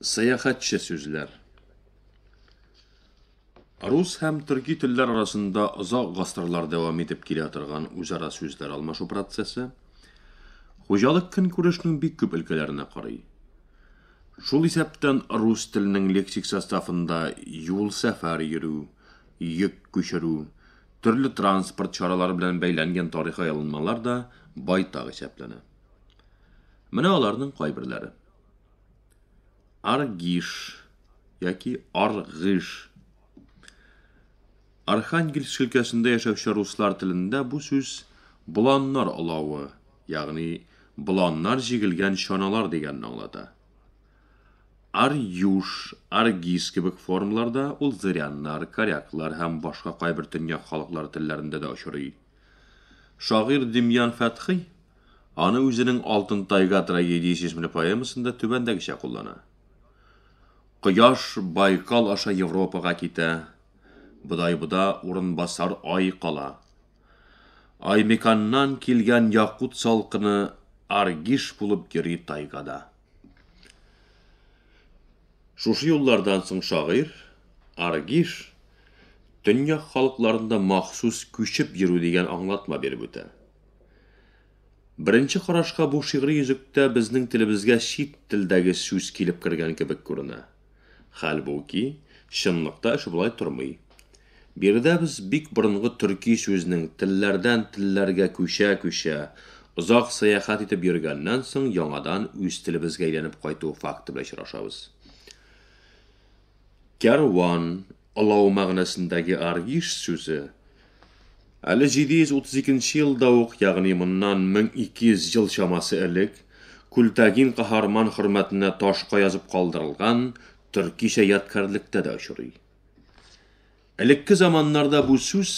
Сәяхәтче сүзләр Рус һәм төрки телләр арасында озак гасырлар дәвам итеп килә торган үзара сүзләр алмашу процессы хуҗалык көнкүрешнең бик күп өлкәләренә карый. Шул исәптән рус теленең лексик составында юл-сәфәр йөрү, йөк күчерү, төрле транспорт чаралары белән бәйләнгән тарихи аерылмалар да байтак исәпләнә. Менә аларның кайберләре. Аргиш яки Аргыш. Архангельск өлкәсендә яшәүче руслар телендә бу сүз боланнар олавы, ягъни боланнар җигелгән чаналар дигәнне аңлата. Арьюш, Аргис кебек формаларда ул зыряннар, коряклар һәм башка кайбер төньяк халыклары телләрендә дә очрый. Шагыйрь Демьян Фәтхый аны үзенең Алтын тайга трагедиясе исемле поэмасында түбәндәгечә куллана. Кояш Байкал аша Европага китә, Бодайбуда урынбасар ай кала. Аймеканнан килгән якут салкыны Аргиш булып йөри тайгада. Шушы юллардан соң шагыйрь Аргиш төньяк халыкларында махсус күчеп йөрү дигән аңлатма биреп үтә. Беренче карашка бу шигъри йөзектә безнең телебезгә чит телдәге сүз килеп кергән кебек күренә. Хәлбуки, чынлыкта эш болай тормый. Биредә без бик борынгы төрки сүзнең телләрдән телләргә күчә-күчә, озак сәяхәт итеп йөргәннән соң яңадан үз телебезгә әйләнеп кайту факты белән очрашабыз. Кәрван, олау мәгънәсендәге аргиш сүзе, әле 732 нче елда ук, ягъни моннан 1200 ел чамасы элек, Күлтәгин каһарман хөрмәтенә ташка язып калдырылган төркичә ядкарьлектә дә очрый. Элекке заманнарда бу сүз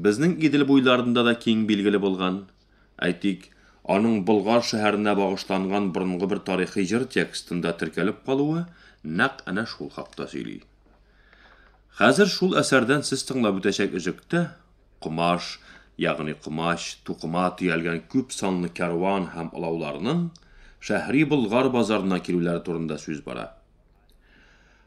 безнең Идел буйларында да киң билгеле булган. Әйтик, аның Болгар шәһәренә багышланган борынгы бер тарихи җыр текстында теркәлеп калуы нәкъ әнә шул хакта сөйли. Хәзер шул әсәрдән сез тыңлап үтәчәк өзектә комаш, ягъни комач, тукыма төялгән күп санлы кәрван һәм олауларның Шәһри Болгар базарына килүләре турында сүз бара.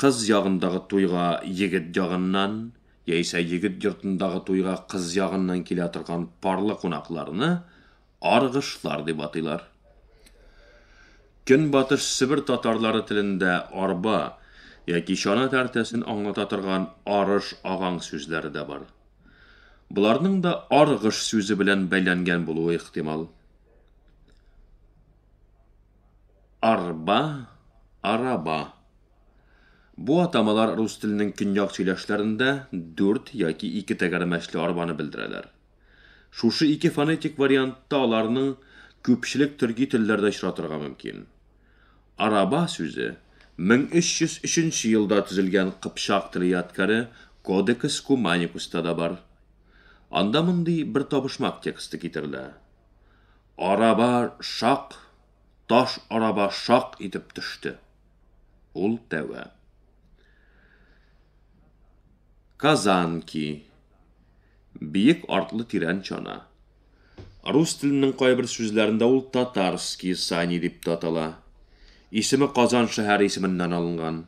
Кыз ягындагы туйга егет ягыннан яисә егет йортындагы туйга кыз ягыннан килә торган парлы кунакларны аргышлар дип атыйлар. Көнбатыш Себер татарлары телендә арба яки чана тәртәсен аңлата торган арыш агаң сүзләре дә бар. Боларның да аргыш сүзе белән бәйләнгән булуы ихтимал. Арба, араба. Бу атамалар рус теленең көньяк сөйләшләрендә дүрт яки ике тәгәрмәчле арбаны белдерәләр. Шушы ике фонетик вариантта аларның күпчелек төрки телләрдә очратырга мөмкин. Араба сүзе 1303 нче елда төзелгән кыпчак теле ядкяре Кодекс Куманикуста да бар. Анда мондый бер табышмак тексты китерелә, Араба шак! таш араба шак итеп төште. Ул тәвә. Казанки. Биек артлы тирән чана. Рус теленең кайбер сүзләрендә ул татарский сани дип татала. Исеме Казан шәһәре исеменнән алынган.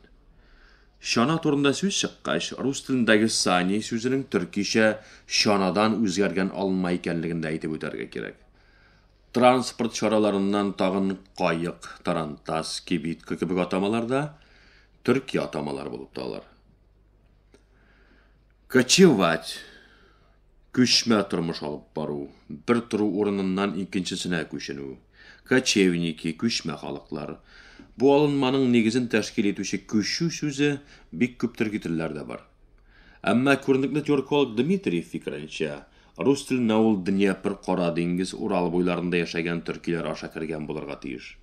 Чана турында сүз чыккач, рус телендәге сани сүзенең төркичә чанадан үзгәргән алынма икәнлеген дә әйтеп үтәргә кирәк. Транспорт чараларыннан тагын каек, тарантас, кибитка кебек атамалар да төрки атамалар булып талар. Кочевать, күчмә тормыш алып бару, бер тору урыныннан икенчесенә күченү. Кочевники, күчмә халыклар. Бу алынманың нигезен тәшкил итүче күчү сүзе бик күп төрки телләрдә бар. Әмма күренекле тюрколог Дмитриев фикеренчә, Рус теленә ул Днепр, Кара диңгез, Урал буйларында яшәгән төркиләр аша кергән булырга тиеш.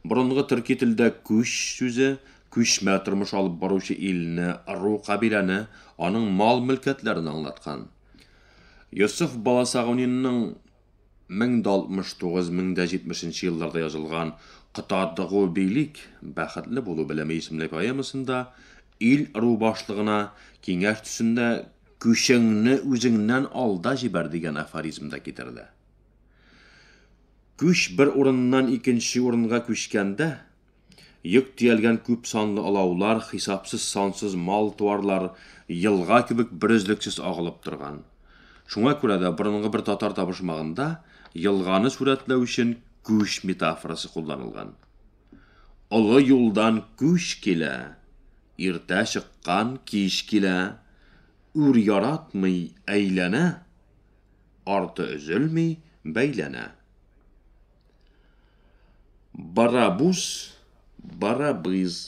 Борынгы төрки телдә күч сүзе күчмә тормыш алып баручы илне, ыру-кабиләне, аның мал-мөлкәтләрен аңлаткан. Йосыф Баласагунинның 1069-1070 нче елларда язылган Котадгу бийлик, бәхетле булу белеме исемле поэмасында ил-ыру башлыгына киңәш төсендә Күчеңне үзеңнән алда җибәр, дигән афоризм да китерелә. Күч бер урыннан икенче урынга күчкәндә, йөк төялгән күп санлы олаулар, хисапсыз-сансыз мал-туарлар елга кебек берөзлексез агылып торган. Шуңа күрә дә борынгы бер татар табышмагында елганы сурәтләү өчен күч метафорасы кулланылган. Олы юлдан күч килә. Иртә чыккан кич килә. Үр яратмый әйләнә. Арты өзелми бәйләнә. Барабуз, барабыз.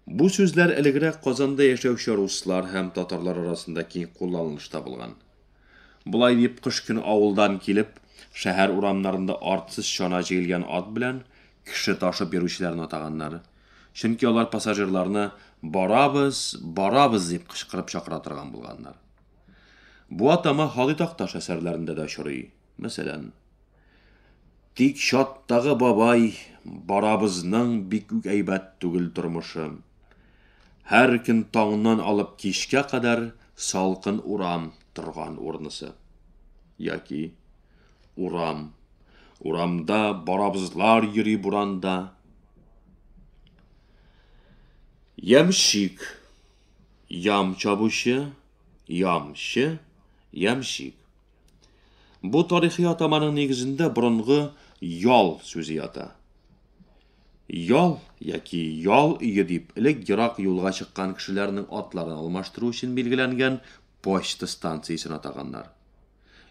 Бу сүзләр элегрәк Казанда яшәүче руслар һәм татарлар арасында киң кулланылыш табылган. Болай дип кыш көне авылдан килеп, шәһәр урамнарында артсыз чана җигелгән ат белән кеше ташып йөрүчеләрне атаганнар. Чөнки алар пассажирларны барабыз, барабыз дип кычкырып чакыра торган булганнар. Бу атама Халый Такташ әсәрләрендә дә очрый. Мәсәлән, Тик чаттагы бабай барабызның бик үк әйбәт түгел тормышы. Һәр көн таңнан алып кичкә кадәр салкын урам торган урнысы. Яки Урам. Урамда барабызлар йөри буранда. Ямщик. Ям чабучы, ямчы, ямщик. Бу тарихи атаманың нигезендә борынгы ял сүзе ята. Ял яки ял өе дип элек ерак юлга чыккан кешеләрнең атларын алмаштыру өчен билгеләнгән почта станциясен атаганнар.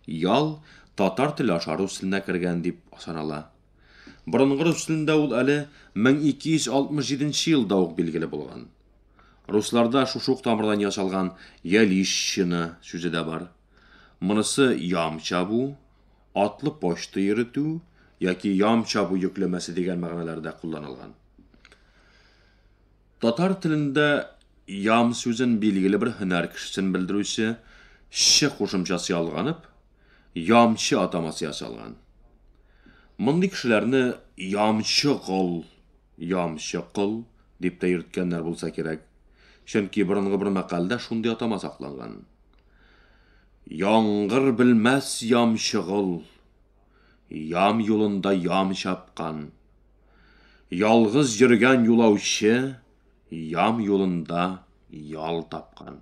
Ял татар теле аша рус теленә кергән дип санала. Борынгы рус телендә ул әле 1267 нче елда ук билгеле булган. Русларда шушы ук тамырдан ясалган ялищина сүзе дә бар. Монысы ям чабу, атлы почта йөретү яки ям чабу йөкләмәсе дигән мәгънәләрдә кулланылган. Татар телендә ям сүзен билгеле бер һөнәр кешесен белдерүче че кушымчасы ялганып, ямчы атамасы ясалган. Мондый кешеләрне ямчы кол, ямчы кол дип тә йөрткәннәр булса кирәк, чөнки борынгы бер мәкальдә шундый атама сакланган. Яңгыр белмәс ямчыгыл. Ям юлында ям чапкан. Ялгыз йөргән юлаучы Ям юлында ял тапкан.